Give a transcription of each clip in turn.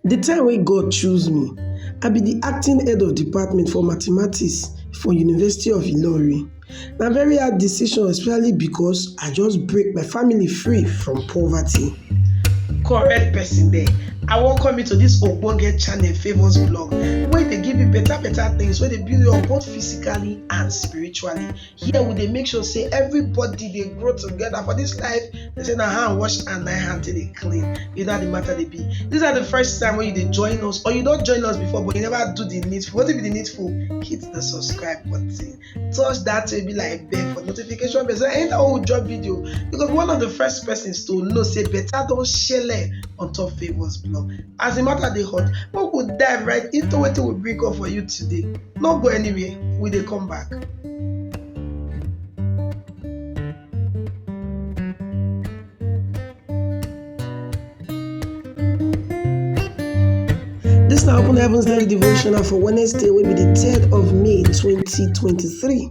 The time wey God choose me, I be the acting head of department for mathematics for University of Ilorin. Na very hard decision especially because I just break my family free from poverty. Correct person there. I welcome you to this ogbonge channel famous blog wey dey give you better better things wey dey build you up both physically and spiritually. here we dey make sure say everybody dey grow together for this life they say na hand wash and na hand till dey clean you know how the matter dey be this are the first time when you dey join us or you don join us before but you never do the needful wetin be the needful hit the subscribe button touch that way be like bell for notification bell so anytime we drop video you go be one of the first persons to know say better don shele on top favours blog as the matter dey hot make we dive right into wetin we bring up for you today. no go anywhere we dey come back. This na Open Heavens Daily Devotional for Wednesday wey be the third of May twenty twenty-three.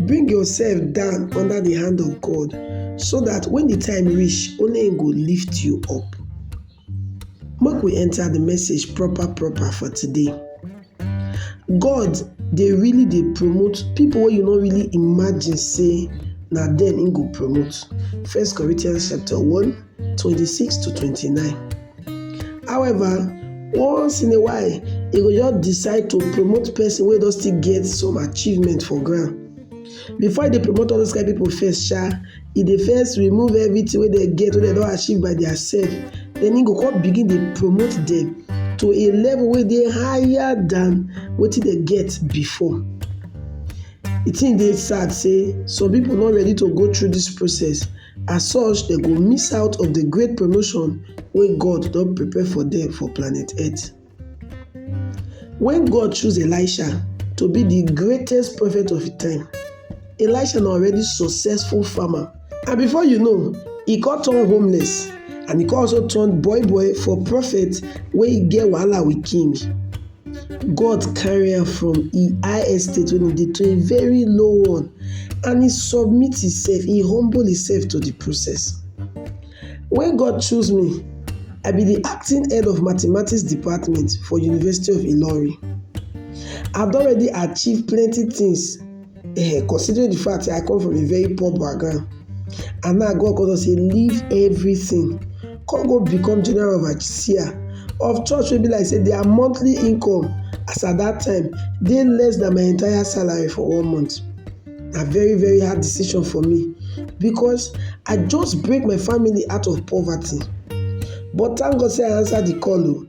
Bring yourself down under the hand of God so that when the time reach, only Him go lift you up. Make we enter the message proper proper for today. God dey really dey promote people wey you no really imagine say na dem Him go promote. First Corinthians chapter one twenty-six to twenty-nine. However, once in a while, e go just decide to promote person wey don still get some achievement for ground. Before e dey promote all those kind people first sha, e dey first remove everything wey dem get wey dem don achieve by their self, then e go come begin dey promote them to a level wey dey higher than wetin dem get before. The thing dey sad say some people no ready to go through this process As such, dem go miss out of the great promotion wey God don prepare for them for planet Earth. When God choose Elisha to be the greatest prophet of the time, Elisha na already successful farmer and before you know, he come turn homeless and he come also turn boy boy for prophet wey get wahala with king. God carry am from e high estate wey e dey to a very low one and e submit himself, e humble himself to the process. When God choose me, I be the acting head of mathematics department for University of Ilorin. I don already achieve plenty things Eh, considering the fact I come from a very poor background, and now God come say leave everything, come go become general overseer of church wey be like say their monthly income as at that time dey less than my entire salary for one month. Na very very hard decision for me because I just break my family out of poverty. But thank God say I answer the call o. Oh.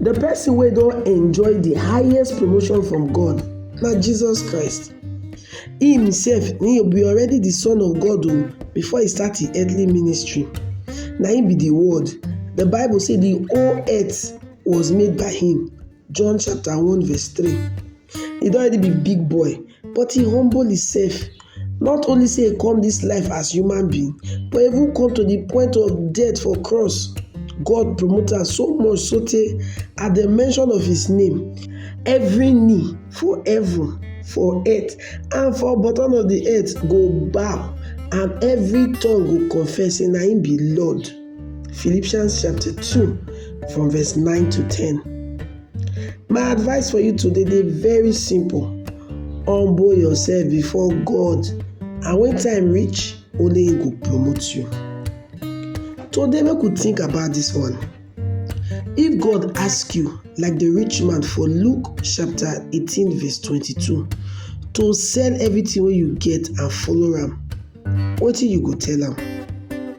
The person wey don enjoy the highest promotion from God na Jesus Christ. He himself he be already the son of God o oh, before he start his earthly ministry. Na him be the word. The Bible say the whole earth was made by him. John chapter 1 verse 3. He don already be big boy but he humble himself not only say he come this life as human being but even come to the point of death for cross. God promote am so much so tey at the mention of his name every knee for heaven for earth and for bottom of the earth go bow and every tongue go confess say na him be Lord. Philippians chapter 2 from verse 9 to 10. My advice for you today dey very simple, humble yourself before God and when time reach, only him go promote you. Today make we think about this one, if God ask you like the rich man for Luke chapter eighteen verse twenty-two to sell everything wey you get and follow am, wetin you go tell am?